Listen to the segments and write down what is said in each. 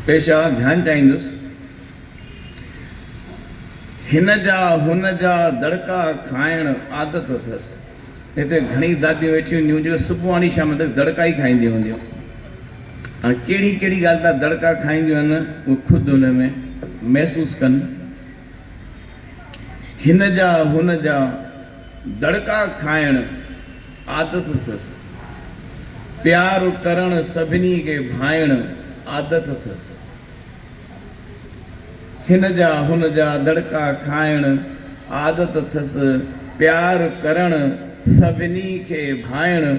پيشه ڌيان چاهيندس. هن جا هن جا دڙڪا کائڻ عادت اٿس. هتي گهڻي داديون ويٺيون هونديون جيڪي صبحاڻي شام تڪ دڙڪا ئي کائينديون هونديون. هاڻي ڪهڙي ڪهڙي ڳالهه تان دڙڪا کائينديون هن اهو خود هن ۾ محسوس ڪن. هن جا هن جا دڙڪا کائڻ عادت اٿس. پيار ڪرڻ سڀني کي ڀائڻ عادت اٿس. هن جا هن جا دڙڪا کائڻ عادت اٿس. پيار ڪرڻ سڀني کي ڀائڻ.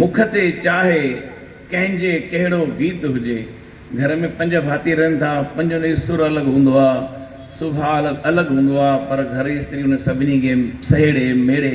مک تي چاهي ڪنهن جي ڪهڙو گيت هجي گهر ۾ پنج ڀاتي رهن ٿا پنجن جو سر الڳ هوندو آهي سڀاء الڳ هوندو آهي پر گهر جي استري ان سڀني کي سهيڙي ميڙي